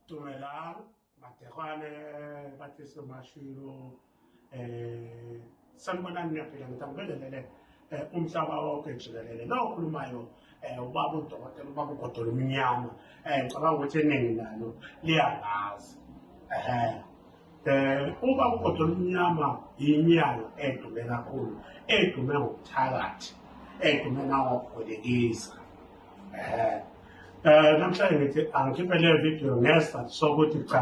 Dumelang, Matekwane, Batliso Mashilo, eh sanibonani niyaphila ngithi angibelelele eh, umhlaba wonke jikelele lo okhulumayo eh, ubaba udokotela ubaba ugodola umnyama um ngicabanga ukuthi eningi nalo liyangazi um um uma ugodo olumnyama yinyanga edume kakhulu edume ngokuthakathi edume nangokubolekisa um um namhlanje ngithi angikhiphe leyo video ngesizathu sokuthi cha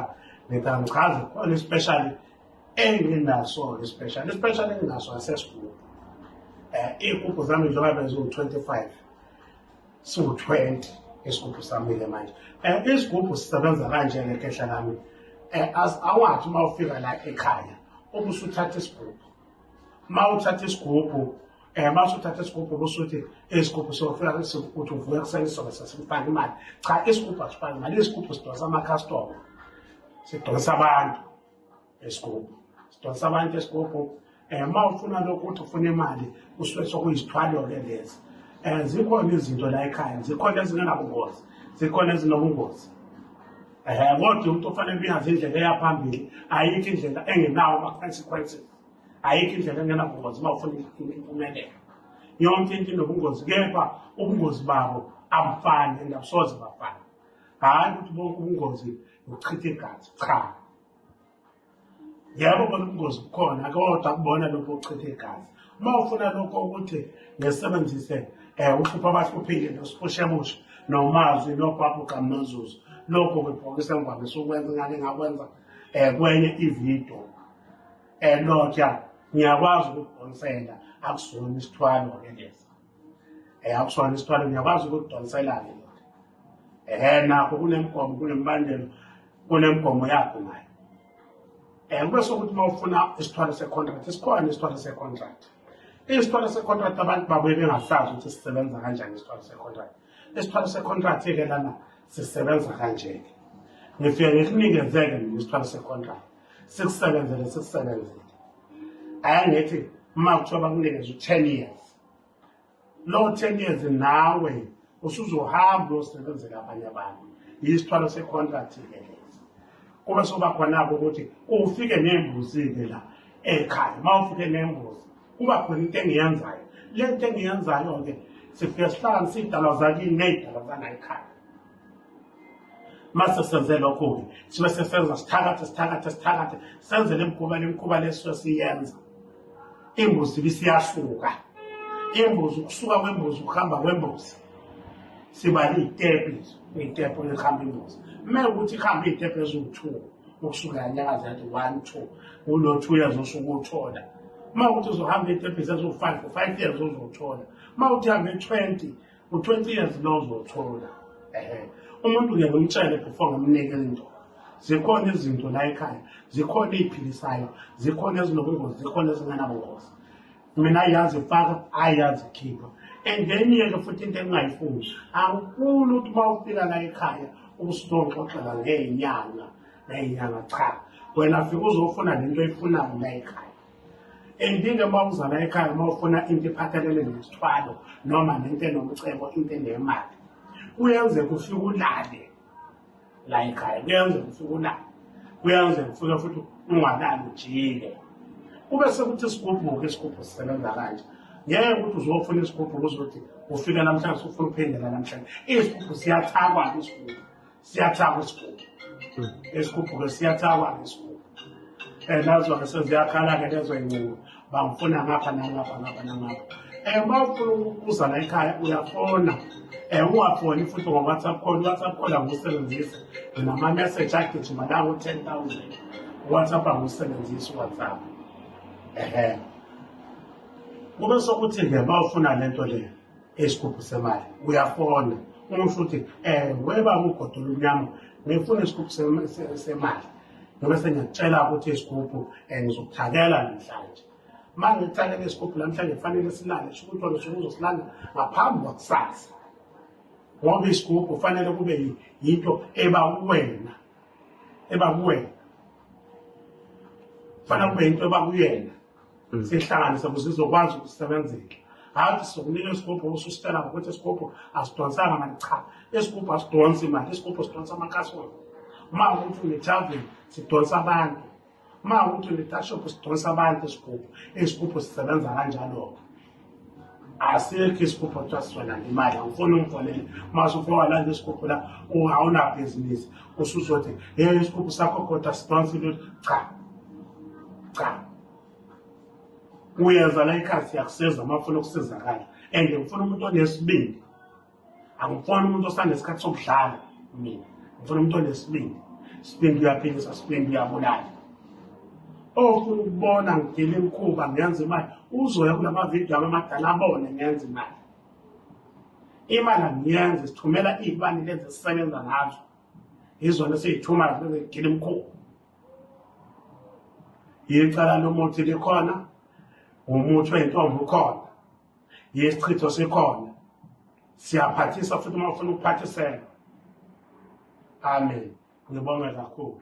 ngithi angichazi khona ispecial enginaso ispecial ispecial enginaso asesigugu um iy'gubhu zami njengabe ziwu-twenty five siwu-20 isigubhu samile manje um isigubhu sisebenza kanje ngekhehla lami um eh, as awathi uma ufika la ekhaya uma usuthatha isigubhu uma uthatha isigubhu um uma usuthatha isigubhu kusuthi isigubhu sofika uthi uvuke kuseni sobe sesimfake imali cha isigubhu asifake imali isigubhu sidonsa amakhastoma sidonsa abantu esigubhu sidonsa abantu esigubhu um eh, uma ufuna lokhu ukuthi ufuna imali kusuke sokuyisithwalo-ke lezi um eh, zikhona izinto la ekhaya zikhona ezingenabungozi zikhona ezinobungozi um eh, kodwa umuntu ofanele uyazi indlela eyaphambili ayikho indlela engenawo ama-consequences ayikho indlela engenabungozi uma ufuna impumelelo yonke into inobungozi kepha ubungozi babo abufani and abusoze bafana hhayi ukuthi bonke ubungozi nokuchitha igazi cha yabo bona ubungozi bukhona akodwa kubona lokho okuchithe igazi uma ufuna lokho ukuthi ngisebenzise um uhlupha abahluphile nosipushemushe nomazwi nobhabhu kamazuzu lokho kwebhokisa ngivamisa ukwenza ngake ngakwenza um kwenye ividiyo um eh, lotya ngiyakwazi ukukudonsela akusona isithwalo-ke lesa Eh akushona isithwalo ngiyakwazi ukudonselana ndoda. Eh nakho kunemgomo kunembandelo kunemgomo yakho nayo. Eh kube sokuthi mawufuna isithwalo secontract isikhona isithwalo secontract. Isithwalo secontract abantu babuye bengasazi ukuthi sisebenza kanjani isithwalo secontract. Isithwalo secontract ke lana sisebenza kanje ke. Ngifike ngikunikeze-ke mina isithwalo secontract. Sikusebenzele sikusebenzele. Ayangithi uma kuthiwa bakunikeza u-10 years low ten years nawe usuzohamba uyosebenzela abanye abantu yisithwalo se-contract ke lesi kube soba khona-ke ukuthi ufike nembuzi-ke la ekhaya uma ufike nembuzi kuba khona into engiyenzayo le nto engiyenzayo-ke sifike sihlala sidalwa zakini ney'dalwa zangayikhaya mase senze lokho-ke sibe sesenza sithakathe sithakathe sithakathe senze le mkhuba le mkhuba lesuke siyenza imbuzi ibisiyasuka imbuzi ukusuka kwembuzi ukuhamba kwembuzi siba liyitepu iyitepu elihamba imbuzi kumele ukuthi ihambe iyitepu eziwu-two ukusuka yanyakaza yathi one two ulo two years osuke uthola uma ukuthi uzohamba iyitepu eziwu-five five years uzothola uma uthi hambe twenty u-20 years lo uzothola ehe umuntu ngeke umtshele before ngamnike into zikhona izinto la ekhaya zikhona ey'philisayo zikhona ezinobungozi zikhona ezinganabungozi mina ayazi faka ayazi khipha and then yeke futhi into engingayifuni angifuni ukuthi uma ufika la ekhaya ubusutonxoxela ngey'nyanga ngey'nyanga cha wena fika uzofuna le nto oyifunayo la ekhaya endinge uma uzala ekhaya uma ufuna into ephathelele nesithwalo noma nento enomcebo into enemali kuyenzeka ufike ulale la ekhaya kuyenzeka ufike ulale kuyenzeka ufike futhi ungalali ujike kube sekuthi isigubhuke isigubhu sisebenza kanje ngeke ukuthi uzofuna isigubhu kuzothi ufika namhlanje ufuna uphendela namhlanje isigubhu siyathakwa isigubhu siyathakwa isigubhu esikhuphuke siyathakwa ngesigubhu um nazona seziyakhala-ke lezo yincubo bangifuna ngapha nangapha ngapha nangapha um uma ufuna ukubuza la ekhaya uyafona um ungafoni futhi ngo-whatsapp call i-whatsapp call angiwusebenzisi nginama-message agijima lawo ten thousand i-whatsapp angiwusebenzisi i-whatsapp ehe kube sokuthi-ke uma ufuna le nto leyo isigubhu semali uyafona uma usho ukuthi um weba ugodo olumnyama ngifuna isigubhu semali ngobe sengiyakutshela ukuthi isigubhu um eh, ngizokuthakela namhlanje uma ngikuthakela isigubhu namhlanje kufanele silale sho ukuthi wena usuke uzosilanda ngaphambi kwakusasa ngoba isigubhu kufanele kube yinto eba kuwena eba kuwena kufanele kube yinto eba kuyena Mm. sihlanganise ukuze izokwazi ukusebenzela hhayi sokunika isigubhu ususitshela ngokuthi isigubhu asidonsanga mali cha isigubhu asidonsi imali isigubhu sidonsa amakasona uma ukuthi unethaveni sidonsa abantu uma ukuthi unetashop sidonsa abantu isigubhu isigubhu sisebenza kanjalo-ke asikho isigubhu kuthiwa sizolanda imali awufuni ungifonele uma usufowalanda isigubhu la awunabhizinisi usuzothi ye isigubhu sakho kodwa sidonsa into cha cha uyenza la ikhasi yakusiza uma ufuna ukusizakala and ngifuna umuntu onesibindi angifuni umuntu osanesikhathi sokudlala mina ngifuna umuntu onesibindi sibindi uyaphilisa sibindi uyabulala ofuna ukubona ngigile imkhuba ngenza imali uzoya kula mavidiyo ami amadala abone ngenza imali imali angiyenzi sithumela iy'bani lezi esisebenza ngazo yizona esiyithumayo bese ngigile imkhuba yicala lomuthi likhona umuthi weyintombi ukhona yesichitho sikhona siyaphathisa futhi uma ufuna ukuphathisela amen ngibonge kakhulu